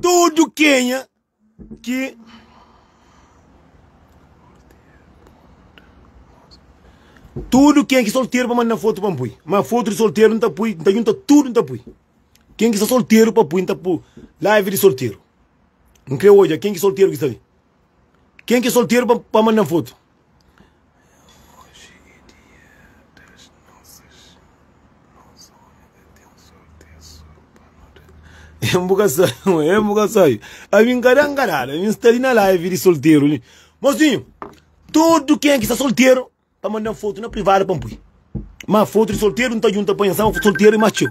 Tudu kenha ki Tudu kenha ki solteru pa manda fotu pa N pui ma fotu di solteru N ta pui N ta junta tudu N ta pui kenha ki sta solteru pa pui N ta pui live di solteru N kre odja kenha ki solteru ki sta li kenha ki solteru pa manda fotu. Oji é dia das nozes Nos omi ka ten sorti É so pa nu da N bu ka sai N bu ka sai Ami N ka da N ka dada Ami N sta li na live di solteru li Mosinhu Tudu ken ki sta solteru Pa manda-m fotu na privadu pa N pui Ma fotu di solteru N ta djunta pa nha N staba solteru i más txeu.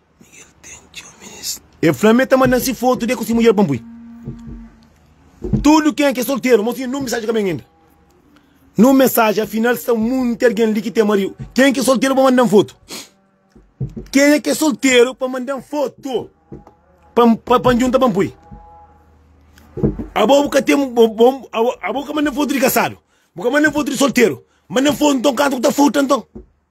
E fla mi e ta mandan si fotu de ku si mudjer pa N pui. Tudu ken ki e solteru mos siñu un misaji ka ben inda. Na un misaji afinal sta munti algen li ki ten mariu. Ken ki solteru pa mandan fotu? Kenha ki solteru pa mandan fotu pa N junta pa N pui? Abo bu ka ten abo bu ka mandan fotu di kasadu? Bu ka mandan fotu di solteru? Mandan fotu nton kantu ku ta furta nton.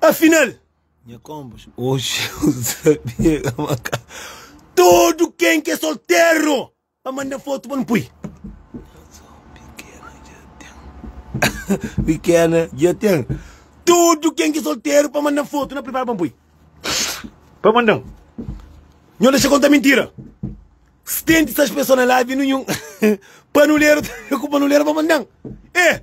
Afinal, nha kombos, oxi eu sabia ka maka. Todo ken ke soltero pa manda foto pa nu pui. Pequena já tem. Todo ken ke soltero pa manda foto na prepara pa pui. Pa manda. Nho deixa conta mentira. Stente essas pessoas na live nenhum. Panulero, culpa panulero pa manda. Eh!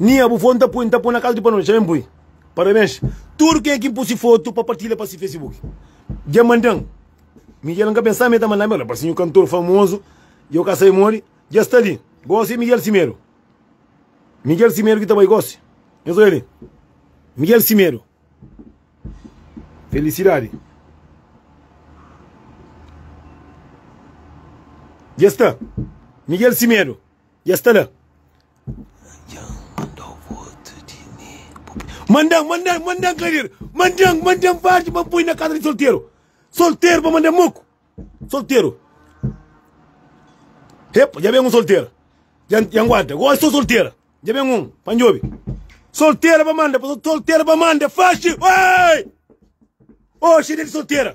Nia bu fon ta poi nta poi na kas di pa noti xaben poi parabens tudu ken ki pusi fotu pa partilha pa si facebook dja mandan Miguel nka pensaba ma e ta mandame ola parsi nhu kantor famozu djau ka sabe modi dja sta li gosi e Miguel Simedo Miguel Simedo ki ta bai gosi nhos oja li Miguel Simedo felisidadi dja sta Miguel Simedo. i es ta la. Manda-m, manda-m, manda-m kadeira. Manda-m, manda-m varji pa N poi na kaza di solteru. Solteru pa manda muku. Solteru. Epa, dja ben un soltera. Dja N aguanta. Gosi so soltera. Dja ben un pa N djobe. Soltera pa manda, soltera pa manda. Faxi! Oi! Oxi, dia di soltera.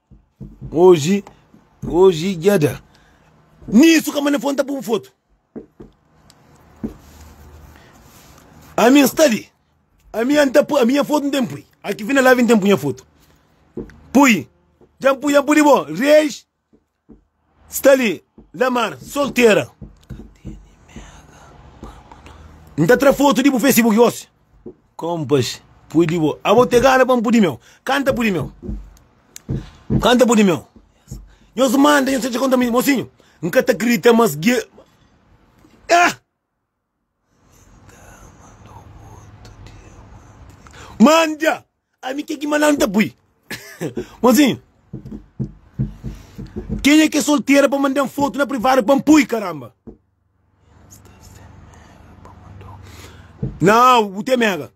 Oji oji dja da. Nisu kama na fo nta pun fotu ami nsta li ami an ta pui ami nha fotu ntem pui aki fina la vin tem pu nha fotu pui dja pui dja pudi bo reis. Sta li na mar soltera. N ta tra fotu di bu facebook gosi. Kompas pudi bo. Abo te gana pa N pudi meu. Kanta pudi meu. Kanta pudi meu. Nhos manda nhos ta txi konta mi. Mosinhu N ka ta kridita mas ge. Ah! Manda! Ami ke ki malan ta pui? Mozinho, ken é ke soltera pa mandan foto na privado pa pui caramba? Nau, bu te mega.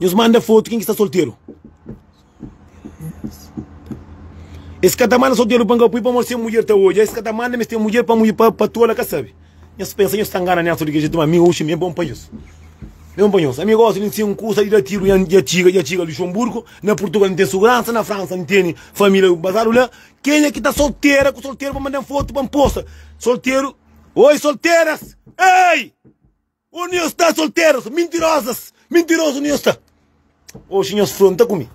Nhos manda fotu ken ki sta solteru Es ka ta manda solteru pa n ka pui pamodi se mudjer ta odja es ka ta manda mes ten mudjer pa mudjer pa tola ka sabi nhos pensa nhos ta ngana Nelson di kel jetu ma ami oxi mi é bon pa nhos mi é bon pa nhos ami gosta di sen kusa di da tiru nha nha txiga nha txiga Luxonburgu na Purtugal mi ten suguransa na Fransa mi teni família bazadu la kenha ki ta soltera ku solteru pa manda-m fotu pa n posta solteru oi solteras ei. Ô nhos sta solteros mintirosas mintirozu nhos sta oxi nhos fronta ku mi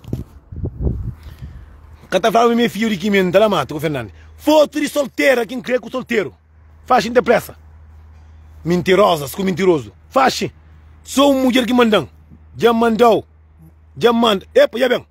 ka ta fla ma mi é fidju di kimia nta la matu ku fernandi fotu di soltera ki nkrê ku solteru faxi nta presa mintirosas ku mintirozu faxi so un mudjer ki mandan dja mandau dja manda epa dja ben.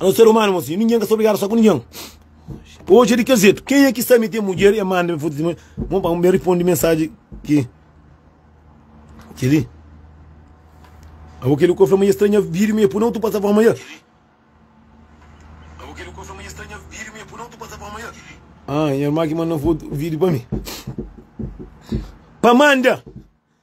Nos ser umanu é mô si, ningen ka sta obrigadu sta ku ningen. Oji é di kel jetu. Kenha ki sta mi ten mudjer e manda mi fotu di mudjer? Bon pa mi riponde mensaji ki li. Abo kel li ku el fla ma i stranha vidu mi e pudi otu pasa fóma. Nha irman ki manda fotu, vidu pa mi pa manda.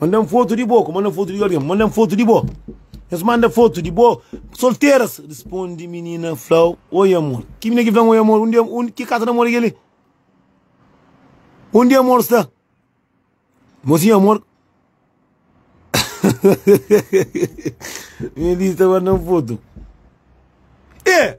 Manda-m fotu di bo, ku manda-m fotu di algen, manda-m fotu di bo. Es manda fotu di bo solteras, responde minina fla-u, Oi amor. Ki minina ki fla-m oi amor? Undi amor, ki kasa di amor é kel-li? Undi amor sta? Mo si amor. Minina di sta manda-m fotu. E!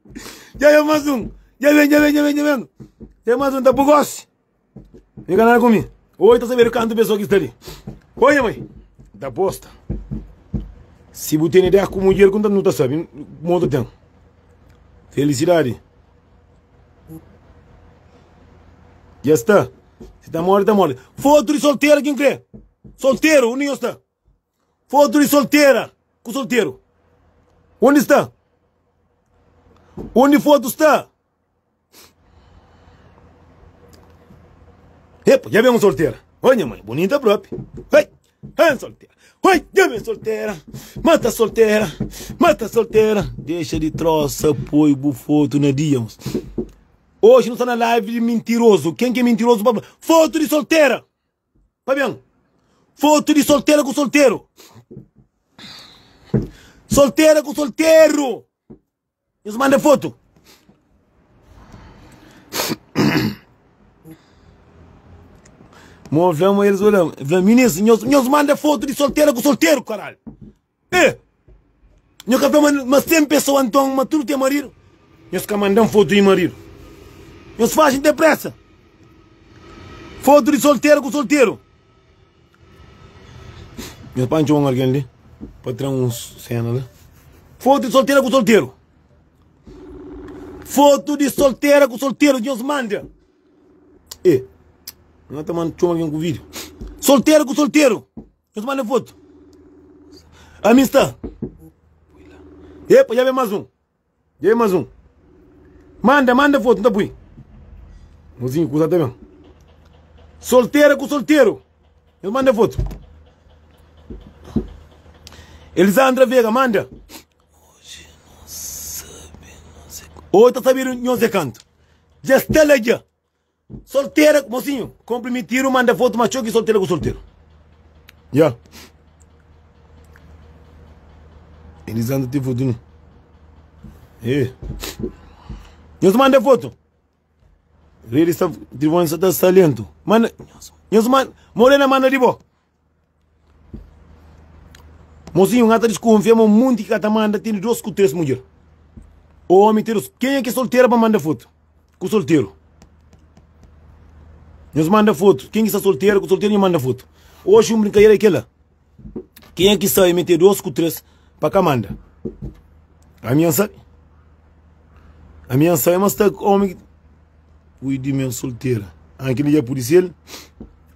Dja ben más un Dja ben, dja ben, dja ben, dja ben Dja más un ta bu gósi Fika la ku mi Oi ta sabedu kantu pesoa ki sta li Oi nha mai Ta posta Si bu tene dea ku mudjer ku nu ta sabe Kuma bu ta ten Felisidadi Dja sta Si ta modi ta modi Fotu di solteru ki N kre Solteru undi nhos sta. Fotu di soltera ku solteru. Undi sta? Undi fotu sta? Epa, dja ben un soltera. Ô nha mãe, bonita propi. Hei, hei soltera. Hei, dja ben soltera. Mata soltera, mata soltera. Dexa di trosa, poi bu fotu na dia. Mas. Hoje nu sta na live de mentiroso. Quem que é mentiroso? Foto de solteira. Pa ben Fotu di soltera ku solteru Soltera ku solteru Nhos manda fotu Mo fla ma elis odja-m Fla-m Minis nhos manda fotu di soltera ku solteru karalhu E! Nho ka fla ma ma si ten pesoa nton ma tudu ten maridu? Nhos ka manda-m fotu di maridu. Nhos faxi-m depresa fotu di solteru ku solteru. Nhos pode txoma un algen li pa tra un sena la. Fotu di solteru ku solteru. Fotu di solteru ku solteru nhos manda. E! Nhos ta manda txoma algen ku video. Solteru ku solteru. Nhos manda é foto. Ami sta. Epa, dja ben más un. Dja ben más un. Manda, manda foto, nta pui. Mozinho kusa ta ben. Soltera ku solteru. Nhos manda é foto. Elisandra Vega, manda. Hoje ta sabido nhos é kantu. Dja sta la dja. Soltera ku mosinhu konprimitiru manda fotu ma txeu ki soltera ku solteru ya Elisandra ten fotu ne eh nhos manda fotu redi sta trivon sa ta sta lentu manda nhos manda morena manda di bo. Mozinhu n'ka ta diskonfia ma monti ki ka ta manda ten di dos ku tres mudjer o omi ten dos kenha ki solteru pa manda fotu ku solteru nhos manda fotu ken ki sta solteru ku solteru nhos manda fotu oxi un brinkadera ki la kenha ki sabe mi ten dos ku tres pa ka manda ami nha sabe ami nha sabe ma sta ku omi pui di mi solteru a kel li dja pudi sel.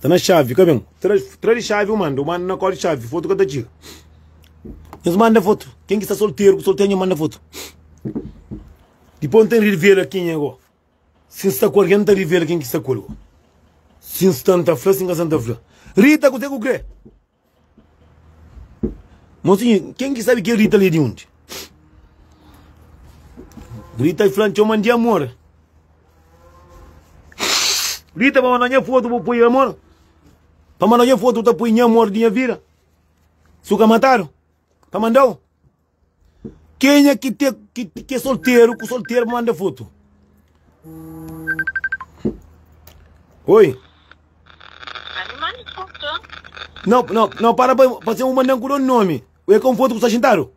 Tá na xavi, ka ben. Tra, tra di xavi u manda, u manda na kóde xavi, foto ka ta txiga. Nhos manda foto, ken ki sta solteru ku solteru nhos manda foto. Dipô N ta revela ken é gó. Si N sta ku algen N ta revela ken ki sta ku el gó. Si N sta N ta fla, si N ka sta N ta fla. Rita, kuzê ku krê? Mosinhu, ken ki sabe kel Rita li é di undi? Rita fla-m txeu ma N di amor Rita pa manda nha fotu bu poi amor Pa manda nha fotu bu ta poi Nha amor di nha vida Si bu ka matadu pa manda-u Kenha ki te ki é solteru ku solteru manda fotu oi no no no para pa pa se un mandan ku don nomi oi ka un fotu ku sta xintadu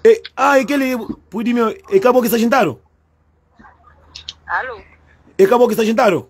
e ah e keli pudi mi e ka bo ki sta xintadu Alô. e ka bo ki sta xintadu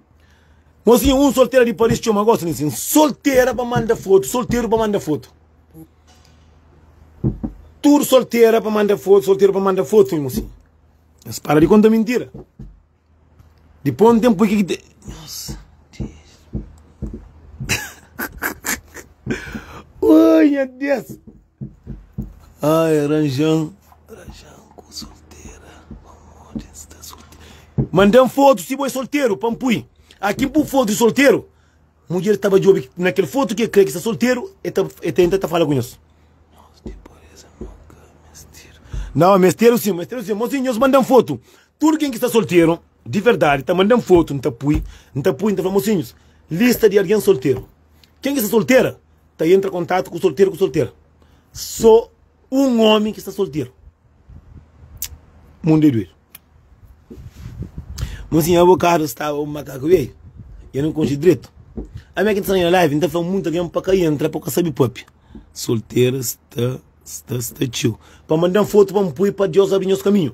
Mozinha, un soltera di Paris txoma gosi di nsin. Soltera pa manda fotu, solteru pa manda fotu. Tudu soltera pa manda fotu, solteru pa manda fotu, nha mozinha. Es para di konta mintira. Dipô un ténpu ki ki ta. Nossa, Deus. Oi, nha Deus. Ai, aranjan, aranjan ku soltera, pamodi N sta solteru. Manda-m fotu si bo é solteru pa N pui. Aki N pui fotu di solteru. Mudjer staba djobe na kel fotu ki el krê ki sta solteru, el ta el tenta ta fala ku nhos. Nhos ten pureza nunka mesteru. Nau, mesteru si, mesteru si. Mosinhu, nhos manda-m fotu. Tudu ken ki sta solteru di verdadi ta manda-m fotu, N ta pui, N ta pui, N ta fla, Mosinhus, lista di algen solteru. Ken ki sta soltera, ta entra kontatu ku solteru ku soltera so un omi ki sta solteru mundu é doidu mon si nha avokadu staba un makaku beiu e nu konxe dretu ami ki ta staba na live nta fla munta gen pa ka entra pa ka sabi papia solteru sta sta sta txeu pa mandan fotu pa npoi pa dios abri nhos kaminhu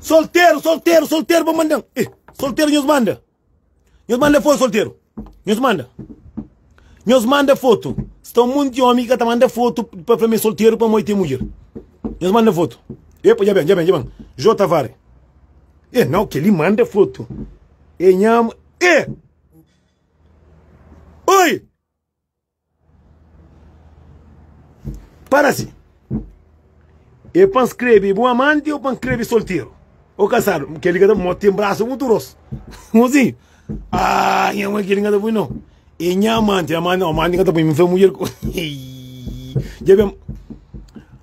Solteru, solteru, solteru pa manda eh, Solteru nhos manda Nhos manda fotu solteru Nhos manda Nhos manda fotu Sta un monti omi ki ka ta manda fotu Pa fla ma é solteru pamodi ten mudjer Nhos manda fotu Epa dja ben, dja ben, dja ben Jô Tavares E não, kel-li manda foto. E nha ama. E! Oi! Parasi. E pa nscreve bu amante ou pa nscreve solteiro? Ou casado? Kel-li ka ta bom, tem braço muito grosso. Mozinho. Ah, nha mãe, kel-li ka ta bom não. E nha amante, amante não, amante ka ta bom, me foi mulher. Já bem.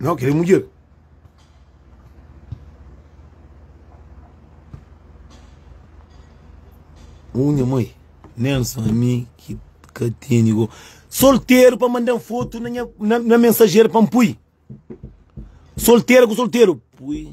Nau kel é mudjer. Uu nha mãe, nen só ami ki ka teni go. Solteru pa manda-m fotu na nha, na, na mensajer pa-m pui. Solteru ku solteru, pui.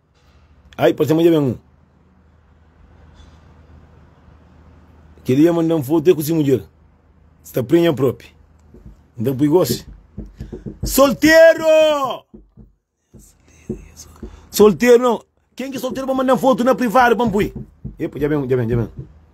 Ai, parse ma dja ben un Kel li a manda-m fotu é ku si mudjer Sta prenha propi N ta pui gosi Solteru Solteru Ken ki é solteru pa manda-m fotu na privadu pa N pui Epa dja ben un, dja ben, dja ben un.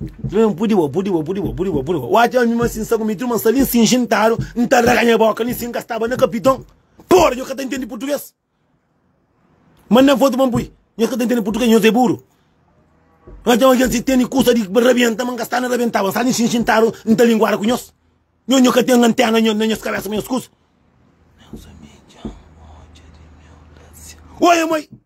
N pudi bo, pudi bo, pudi bo, pudi bo, pudi bo. Watch ami ma si N sta ku Mitru ma N sta li si xintadu, N ta raga nha boka li si N ka staba na kapiton. Pora, nhos ka ta intendi purtuges. Manda-m fotu pa N pui. Nhos ka ta intendi purtuges, nhos é buru. N atxa ma kes li tene kusa di rabienta ma N ka sta na rabientaba. N sta li si xintadu, N ta linguada ku nhos. Nhos, nhos ka ten antena na nhos kabesa pa nhos kusa. Meus amiga odja di meu lâsia. Oi, amoi!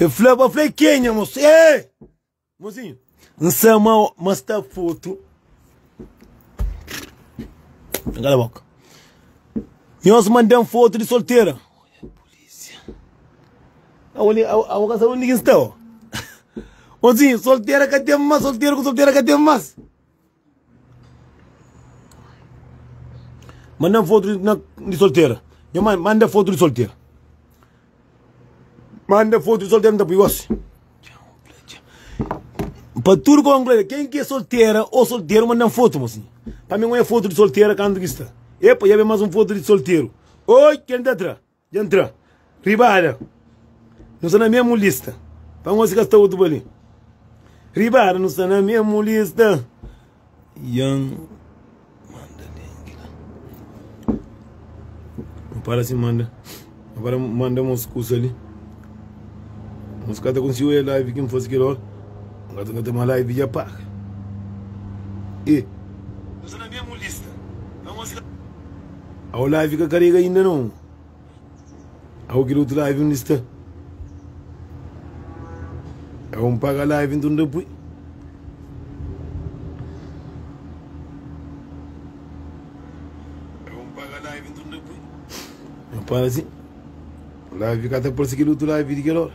E fla ba fla e kenha mosi eh Mozinho N sa ma ma sta fotu N kala boka Nhos manda-m fotu di soltera Abo ka sabe undi ki N sta oh Mozinho soltera ka ten mas Soltera ku soltera ka ten mas Manda-m fotu di, na, di soltera. Nha mãe, manda fotu di soltera. Manda fotu di soltera, nta pui gosi. Pa tudu ka konklui, ken ki é soltera ô solteru, manda-m fotu, mosi. Pa mi, un é fotu di soltera kantu ki sta. Epa, dja ben más un fotu di solteru. Oi, kel li ta tra. Dja N tra riba ada Nu sta na mesmu lista Pa ngosi ka sta otu pa li Riba ada nu sta na mesmu lista Dja N manda dengi la N fala si manda N fala manda mos kusa li Mos ka ta konsigu e live ki N fase kel ora N ka ta nota ma live dja paga e Nu sta na mesmu lista Pa ngosi ka. Au la fika karega inda no Au kel otu live undi sta Au n paga live nton ta pui Au n paga live nton ta pui N para si Live fika ta parse kel otu live di kel ora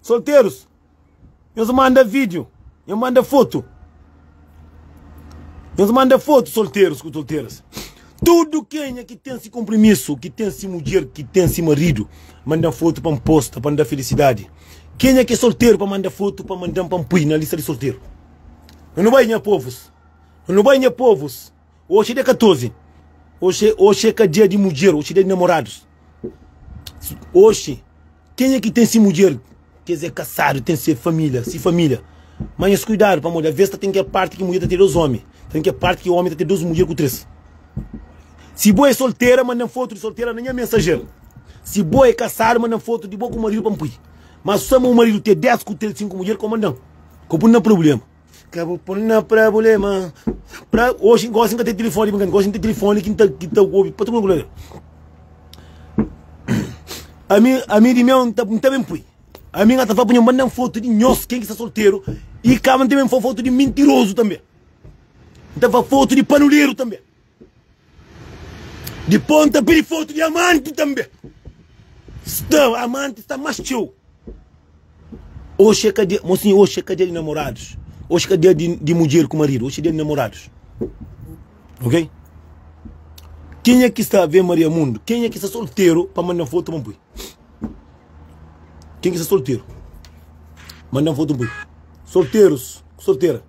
Solterus nhos manda video nhos manda foto nhos manda foto solterus ku solteras tudu kenha ki ten si konprimisu ki ten si mudjer ki ten si maridu mandan foto pa nposta pa nda filisidadi kenha ki é solteru pa manda foto pa mandan pa npui na lista di solteru nhos nu bai nha povus nhos nu bai nha povus. Oxi de 14. Oxi, oxi é ka dia di mudjer, oxi dia di namoradus. Oxi, kenha ki ten si mudjer, kes é kasadu, ten se família, si família. Má nhos kuidadu, pamodi avês ta ten kel párti ki mudjer ta ten dôs ómi, ta ten kel párti ki ómi ta ten dôs mudjer ku três. Si bo é soltera, manda-m fotu di soltera na nha mensajer. Si bo é kasadu, manda-m fotu di bo ku maridu pa N pui. Má sô ma bu maridu ten dés ku três, sinku mudjer, ka bu manda-m, ka bu pui-m na prubléma. Ka bu pon na prabulema pra, Oxi gosi nka ten tilifoni di brinkadeira Gosi nten tilifoni ki nta ki nta obi pa tudu lugar Ami ami di meu nta nta ben pui Ami nga ta fla pa nho manda-m fotu di nhos ken ki sta solteru I kaba nta ben fla fotu di mintirozu tanbe Nta fla fotu di panuleru tanbe Di ponta pa di fotu di amanti tanbe sta amanti sta mas txeu oxi é ka dia mon sinha oxi é ka dia di namoradus oxi ka dia di di mudjer ku maridu oxi é dia di namoradus ok kenha ki sta ave maria mundu kenha ki sta solteru pa manda fotu pa npoi kenha ki sta solteru manda fotu npoi solterus ku soltera.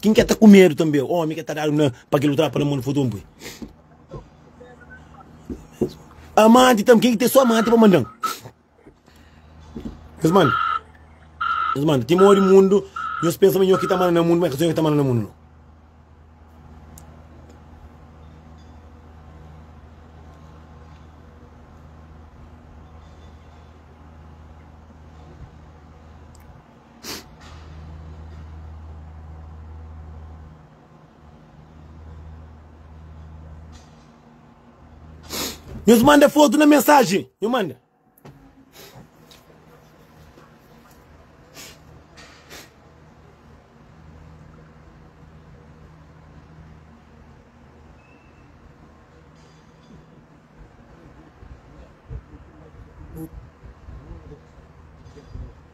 Kin ke ta ku medu tanbe omi ke ta dadu na pa kel utrapa na mon fotu un pui amanti tanbe kin ke ten so amanti pa mandan nhos manda nhos manda ti modi mundu nhos pensa ma nho ki ta manda na mundu ma e ka so nho ki ta manda na mundu no Nhos manda fotu na mensajen nhu manda.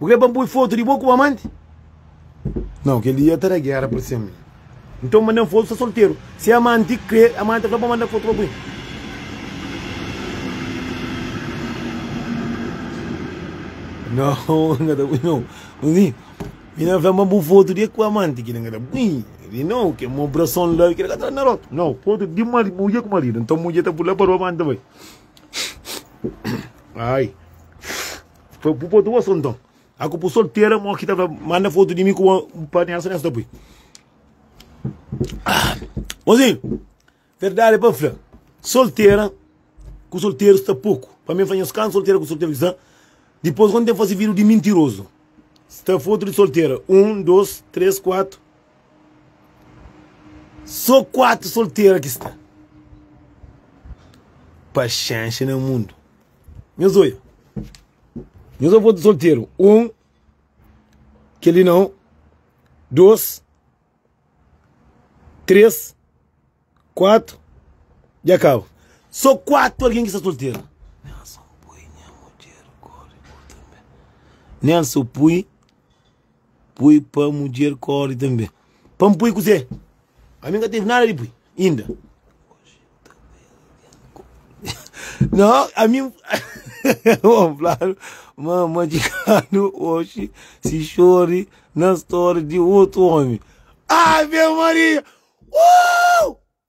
Bu krê pa N poi fotu di bo ku bu amanti? Nau, kel-li dja ta da géra pa se-m. Nton, manda-m fotu sta solteru. Si amanti krê, amanti ta fla pa manda fotu pa bu. Nau, N ka ta poi nau. Nton, si N fla-m ba bu fotu di ku amanti, ki-la N ka ta poi. Di nau, kel mon brason la, ki-la ka ta na rotu. Nau, fotu di mari, mudje ku maridu. Nton, mudje ta pula pa roba antis ta bai. Ai. Pa bu pôde gosta nton. A ku bu soltera mo ki ta fla manda foto di mi ku bo pa nessa nessa ta pui. Ah, mozinho, verdade pa fla, soltera ku solteru sta pouco. Pa mi fla nhos kantu soltera ku solteru ki sta, dipos quando tem fasi vídeo di mintiroso. Sta foto di soltera, um, dos, tres, quatro. Só quatro soltera ki sta. Paxenxa na mundu. Nhos oia. Nhos avô ta solteru. Un, kel li nau. Dôs, três, kuatu, dja kaba. Sô kuatu algen ki sta solteru. Nélson pui nha mudjer kóre ku tanbê. Nélson pui. Pui pa mudjer kóre tanbê. Pa N pui kuzê? Ami N ka tevi nada di pui inda. Nau, ami N fladu ma N madjikadu oxi si xori na stória di otu ómi. Ave Maria! Uuuw!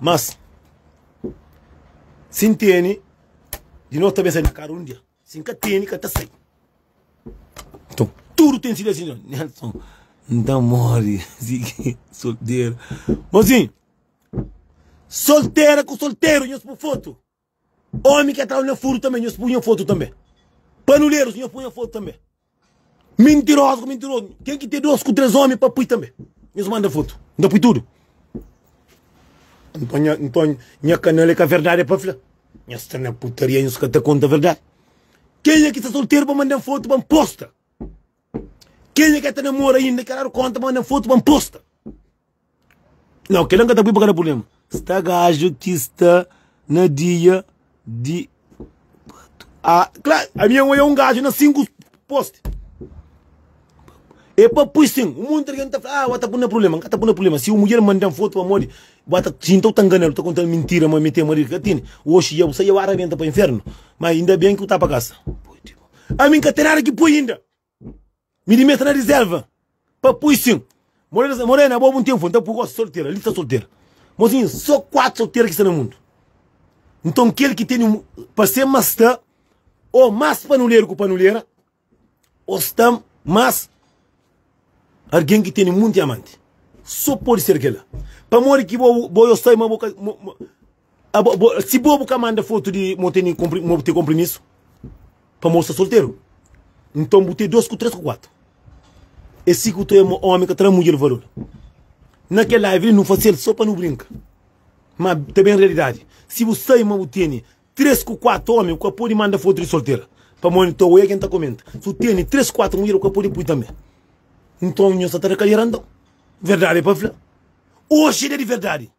Mas, si N tene, di nos ta ben sai na karu un dia. Si N ka tene, ka ta sai. Nton, tudu ten se destino. Nelson, N ta móre sigi solteru. Mozinhu, soltera ku solteru nhos pui fotu. Omi ke tau nha furu tambe nhos pu nha fotu tambe panulerus nhos pu nha fotu tambe mintirozu ku mintirozu ken ki ten dos ku tres omi pa pui tambe nhos manda fotu N ta pui tudu nton nha nton nha kanal e ka verdadi e pa fla nhos sta na putaria nhos ka ta konta verdadi kenha ki sta solteru pa mandan fotu pa N posta kenha ke ta namora inda kelaru konta pa mandan fotu pa N posta. Nau kela nka ta pui pa kada purblema sta gajo ki sta na dia di kuatu a kla ami un oia un gajo na sinku posti e pa pui sin un monti algen ta fla a ua ta puna purblema nka ta puna purblema si un mudjer mandan fotu pamodi ua ta sinta u ta nganal u ta kontal mintira ma mi ten maridu ka tene oxi ya bu sai ya ua rabenta pa infernu ma inda ben ki u ta pa kasa ami nka ten nada ki pui inda. Mi di meta na rizerva pa pui sin Morena, Morena, abo bu n'ten fun Nta pui gosi soltera, lista soltera Mozinha, so kuatu soltera ki sta na mundu Nton kel ki teni pa se ma sta O mas panuleru ku panulera O sta mas argen ki teni munti amanti So podi ser kel-la Pamodi ki bo, bo yo sai ma bo ka, ma, ma. Abo, bo, si bo bu ka manda foto di mo teni kompri, mo te komprimisu pa mo sta solteru, nton bu te dos ku tres ku kuatu. É si ku tu é mo omi ka ta da mudjer valor. Na kel live li nu fasel so pa nu brinka, ma ta ben realidadi. Si bu sai ma bu teni tres ku kuatu omi bu ka podi manda foto di soltera pa mo nta oia ken ta komenta. Si bu teni tres ku kuatu mudjer bu ka podi pui tambe. Nton nho sta ta da kalera nton. Verdadi pa fla. Oxi da di verdadi.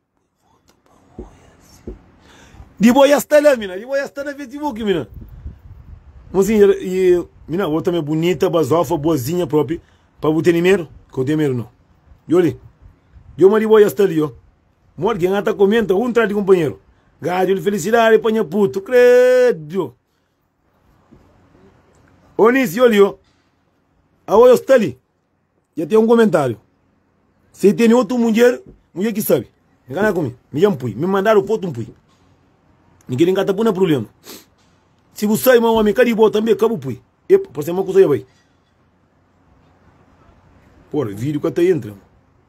Di bo ya sta la mina, di bo ya sta na Facebook mina. Bo si ya e mina bo tambe bunita, bazofa, boazinha propi pa bu tene medu? Ka bu ten medu no. Yo li, yo ma di bo ya sta li yo. Ma algin a ta komenta un tras di kunpanheru. Gaju li felisidadi pa nha putu, kredo. Ô Nisi, yo li yo. Aô yo sta li. Dja ten un komentáriu Si el tene otu mudjer, mudjer ki sabe Ngana ku mi, mi dja N pui Mi mandadu pa otu N pui Mi kel-li N ka ta pui na prubléma Si bu sabe ma ómi ka di bo tanbê ka bu pui Epa, parse-m ma kusa dja bai Pô, vídiu ka ta entra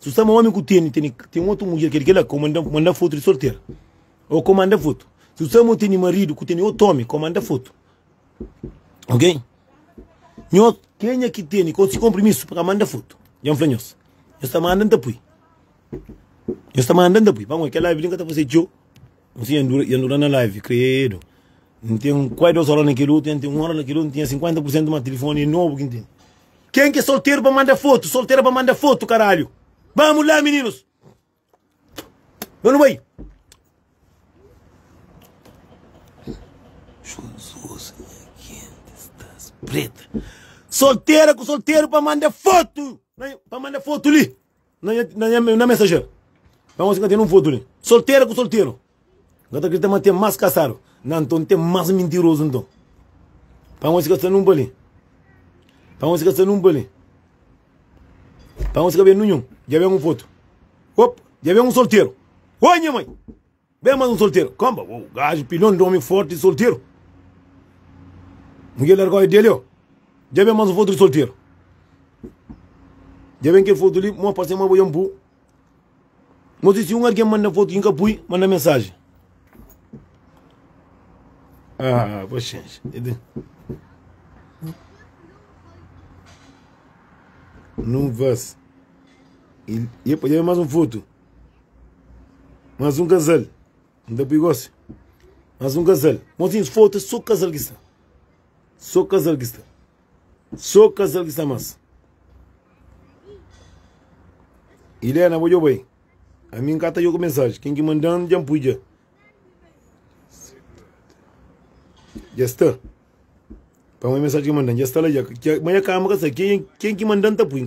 Si bu sta ma omi ku teni teni ten otu mudjer keri kela, kau manda manda fotu di sortera o kau manda fotu. Si bu sta ma bu teni maridu ku teni otu omi, kau manda fotu. Ok? Nho, kenha ki teni kau si konprimisu pa ka manda fotu? Dja N fla nhos. Nhos ta manda N ta pui. Nhos ta manda N ta pui. Pamodi kela Bíblia N ka ta fase txeu. Nsi ya ndura, ya ndura na live, kredo. N ten kuai dos ora na kel otu, ya N ten un ora na kel otu, N tinha 50 por sentu ma tilifoni é nobu ki N ten. Ken ki é solteru pa manda fotu, soltera pa manda fotu karalhu. Bamu la mininus. Ba nu bai. Jesus, nha kenti stas preta. Soltera ku solteru pa manda fotu, pa manda fotu li. Na nha, na nha, na mensajer. Má nhosi N ka ten un fotu li. Soltera ku solteru. N ka ta kridita ma ten más kasadu. Na nton N ten más mintirozu nton. Pa nhosi ka sta nun pa li. Pa nhosi ka sta nun pa li. Pa nhosi ka ben nunhun. Dja ben un fotu. Op! Dja ben un solteru. Oi nha mai! Ben mas un solteru kanba uou gajo pilhon di omi forti solteru miguel largau e delio dja ben mas un foto di solteru dja ben kel foto li mo parse ma bo dja bu mo si si un argen manda foto inka pui manda mensaji ah paxenxa nuvas dja ben mas un foto. Mas um casal Não tá perigoso assim Mas um casal Mozinhos foto é só casal que está Só casal que está Só casal que está mas Helena bo djoba aí Ami nka ta djoba mensagem Ken ki mandan dja N pui dja Dja sta Pamodi mensagem ki mandan dja sta la dja Mas nha kama ka sai Ken ki mandan ta pui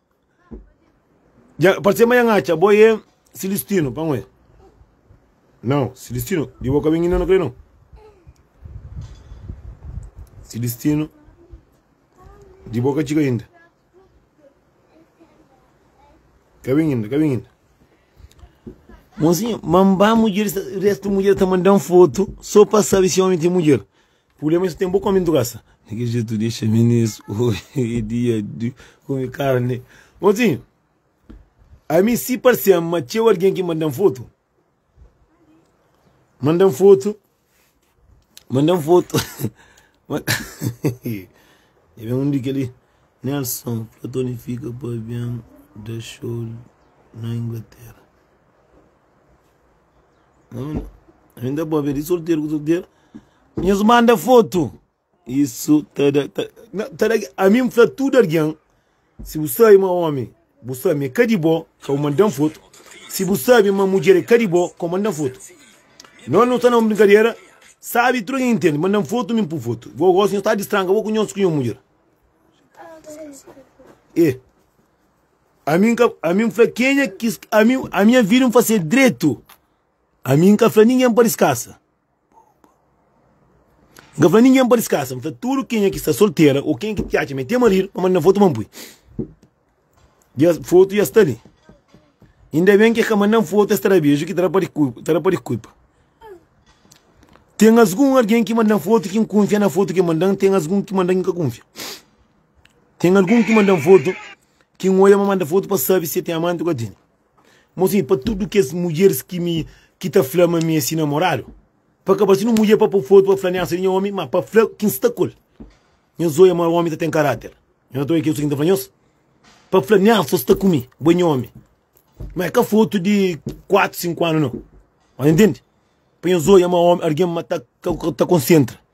Ya, pode ser ma ya n'atxa bo e Silistinu pa n'we. Nau, Silistinu, di bo ka ben inda na kre nau. Silistinu, di bo ka txiga inda. Ka ben inda, ka ben inda. Monsinho, ma n'ba mudjer, restu mudjer ta mandan fotu so pa sabi si omi ten mudjer. Problema é tem bo come durasa. Di que jeito deixa meninos hoje é dia de comer carne? Motinho, a mim se pareceu ma tcheu alguém que mandam foto. Mandam foto. Mandam foto. Ma- E vem um dica ali. Nelson, Platoni fica para avião da show na Inglaterra. Ainda bom, vê de solteiro com solteiro. Nhos manda foto. Isso tá da. Tá, não, tá da a mim me fala tudo alguém. Se bu sabe ma homem, bu sabe é cadi bó, que eu mandam foto. Se bu sabe ma mulher é cadi bó, que eu mandam foto. Não, não tá na uma brincadeira. Sabe, tudo alguém entende. Mandam foto, me por foto. Vou gosto, não tá de estranca, vou conhecer com minha mulher. É. Ami n ka, ami n fla kenha ki ami, ami nha vida n fase dretu. Ami n ka fla ningen pa diskasa. N ka fla ningen pa diskasa, n fla tudu kenha ki sta soltera o kenha ki ta atxa ma e ten maridu pa manda na fotu pa n pui. Dja, fotu dja sta li. Inda ben ki e ka mandan fotu es ta da beju ki ta da pa ta da pa diskulpa. Ten asgun algen ki mandan fotu ki n kunfia na fotu ki e mandan, ten asgun ki mandan ki n ka kunfia. Tem algum ki manda-m foto ki N oia ma manda foto pa sabi si e tem amante o ka tem. Mo sim pa tudo kes mudjeres ki mi ki ta fla ma mi e si namorado pa ka ba si nu mudjer pa po foto pa fla niasa di nha omi ma pa fla ki N sta ku el. Nhos oia ma omi ta tem karater. Nhos ta oia ki e su ki N ta fla nhos pa fla niasa o sta ku mi bo e nha omi ma e ka foto di 4, 5 ano no. Nhos entende? Pa nhos oia ma omi arguem ma ta konsentra.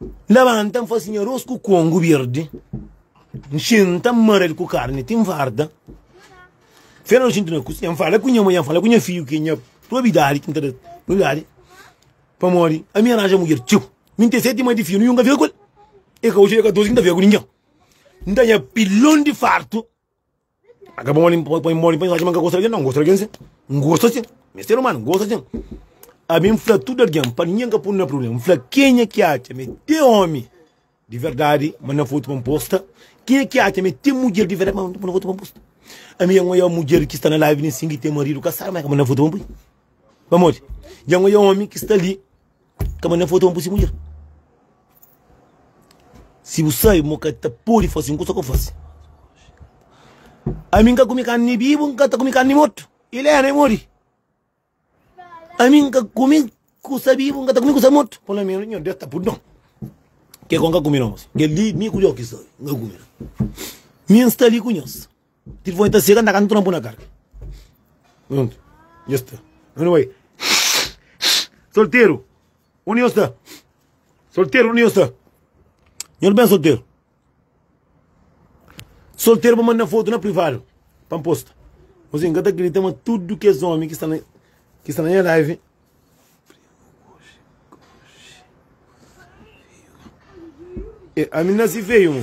N labanta, N fase nha arôs ku kongu berdi, N xinta, N mara el ku karni ti N farta. Fera noji N ta na kuzinha, N fala ku nha mudjer, N fala ku nha fidju ki é nha probidadi ki N ta da probidadi. Pamodi ami aranja mudjer txeu, mi N ten seti irma di fia, ninhun ka fika ku el. E ka oji, e ka adosi ki N ta fika ku ningen. N ta nha pilon di fartu. A ka pamodi npa poi modi pa inxaxi ma nka gosta di algen, nau, ngosta di algen sin, ngosta sin, mi é ser umanu, ngosta sin. Ami nfla tudu algen pa ningen ka punu na prubléma, nfla kenha ki atxa ma é te omi di verdadi ma na fotu pa nposta, kenha ki atxa ma é te mudjer di verdadi ma na fotu pa nposta. Ami dja ngoia mudjer ki sta na live nen sin ki ten maridu kasadu ma é ka ma na fotu pa npoi, pamodi dja ngoia omi ki sta li. Kama nen foto ma bu si mudjer Si bu sai mo ka ta podi fase un kusa ku fase Ami nka kumi karni bi bu nka ta kumi karni mortu Ilena i modi Ami nka kumi kusa bi bu nka ta kumi kusa mortu Polo menus nho Deus ta pudi no Ke ku nka kumi no Kel di mi ku Joki sta li nka kumi Mi nsta li ku nhos. Ti foi ta sega ndaga nu tran bu na karga Pronto Dja sta Anyway Solteru Undi nhos ta Solteru Undi nhos ta Nhos ben solteru Solteru pa manda fotu na privadu Pa N posta Nhos ben ka ta kridita ma tudu kes omi ki sta na ki sta na nha live Ami nasi feyu mo.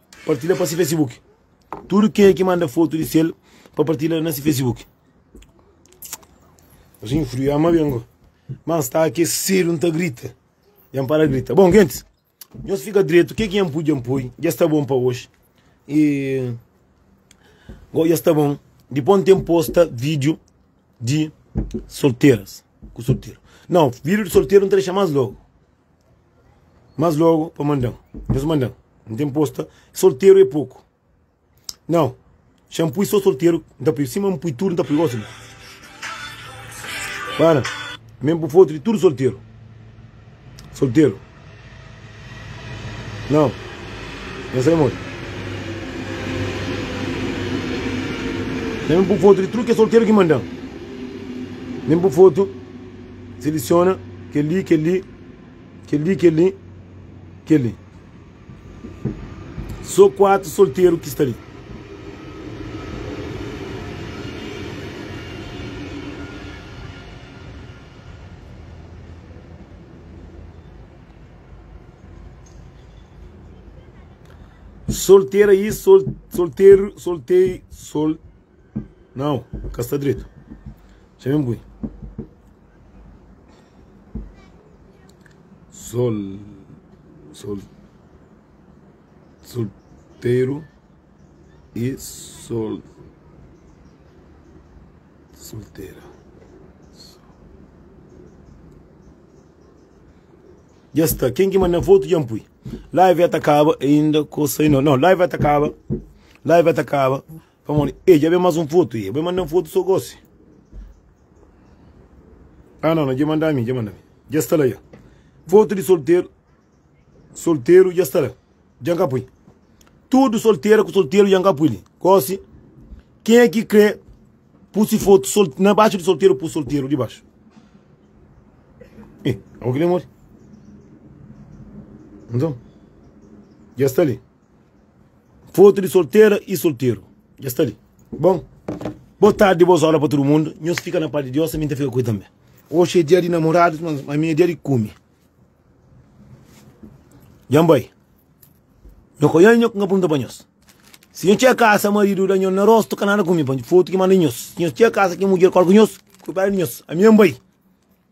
Partilha pa si Facebook. Tudu kenha ki manda fotu di sel pa partilha na si Facebook. Asin friu ya ma bengo. Mas sta aquecido, nta grita. Yan para grita. Bom, gentes, nhos fica direito. O que é que yan pui, yan pui. Já está bom para hoje. E... Go, já está bom. Depois não tem posta vídeo de solteiras. Com solteiro. Não, vídeo de solteiro não tem mais logo. Mas logo pa mandan Nhos mandan N ten posta Solteru é poku Nau xa N pui so solteru N ta pui Sima N pui tudu N ta pui Gosi bo Bana Me N bu fotu di tudu solteru Solteru Nau Nhos sai modi Me N bu fotu di tudu kes solteru ki mandan Me N bu fotu. Selesiona kel-li, kel-li, kel-li, kel-li, kel-li. Sô kuatu solteru ki sta li. Soltera i sol, solteru, soltei, sol. Nau, ka sta dretu. Txeu ben bui. Sol, sol, solteru y sol, soltera. Dja sta, ken ki manda fotu dja N pui. Live ya ta kaba ainda ku sa inda. Nau, live ya ta kaba, live ya ta kaba. Pamodi e dja ben mas un fotu e e bai manda-m fotu so gosi. Ah no no dja manda mi dja manda mi dja sta la dja fotu di solteru solteru dja sta la dja n ka pui tudu soltera ku solteru dja n ka pui li gosi ken e ki kre pu si fotu sol na baxu di solteru pu solteru di baxu e abo ki demori nton dja sta li. Fotu di soltera y solteru dja sta li bon. Boa tardi boas óra pa tudu mundu nhos fika na paz di Dios ami ta fika ku i tanbe oxi é dia di namoradus mas ami é dia di kume dja n bai nho ka nha ku nha pergunta pa nhos si nho txega kasa maridu da nho na rostu ka nada kume pa fotu ki manda nhos si nho txega kasa ki mudjer kal ku nhos kuidadu di nhos ami é n bai.